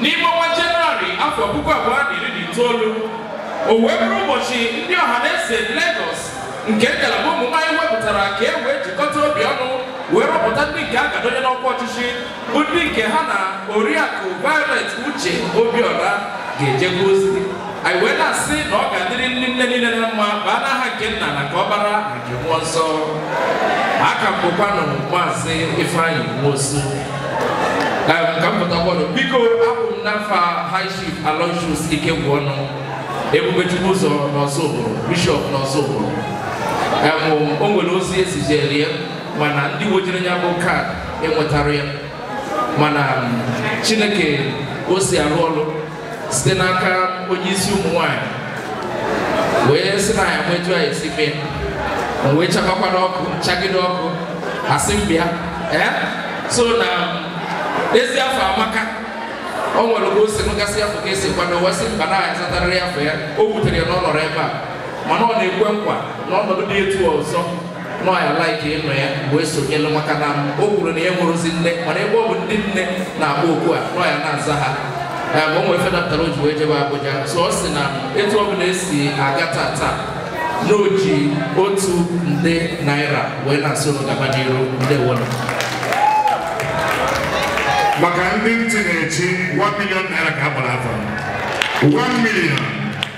N'ime ọnwa Jenụwarị afọ puku abụọ na iri na itoolu, o wee bụrụ ụbọchị ndị Ọhanaeze Legọs nke ngalaba ụmụ nwaanyị wepụtara ka e wee jikọta obi ọnụ wee rọpụta ndị nke a ga-adọnye n'ọkwa ọchịchị bụ ndị nke ha na oriakụ Violet Uche Obiora ga-ejekọ ozi anyị wee na-asị na ọ ga-adịrị ndị nne niile na mma baa n'aha nke nna na nke ọkpara na nke mmụọ nsọ aka m bụkwanụ maazị Ifeanyị Nwosu Em, ka m pụtakwado biko abụ m n'afa high chief aloysius Ikegwuọnụ Ebubechukwuụzọ n'Ọzụbụlụ Bishọp n'Ọzụbụlụ Em, o nwere ozi e zijere ya mana ndị wejere ya bụ kaadị enwetarọ ya mana Chineke o si arụ ọrụ site n'aka onye isi ụmụ nwanyị wee sị na ya nwetu anyị si mee o wee chakwara ọkụ chagide ọkụ asị m bịa ee so na ezi afọ amaka o nwere oge o si nụgasị afọ ka e si kwado wee sị mba na ya zatarịrị afọ ya o wutere ya na ọ nọrọ ebe a mana ọ na-ekwe nkwa na ọnọdụ dị etu a ọzọ na ya like ịnọ ya wee sonyelu maka na o kwuru na ya nwerọzi nne mana ebe ọ bụ ndị nne na-akpọ oku a na ya na-aza ha ya bụ o nwe ife dapụtara o ji wee jebe Abuja so ọ sị na etu ọ bụla esi aga tata na o ji otu nde naira wee na-asị ọlụ gaba n'iru ndeewonụ maka ndị ntị na-echi 1 million naira ka a gbara afọ 1 million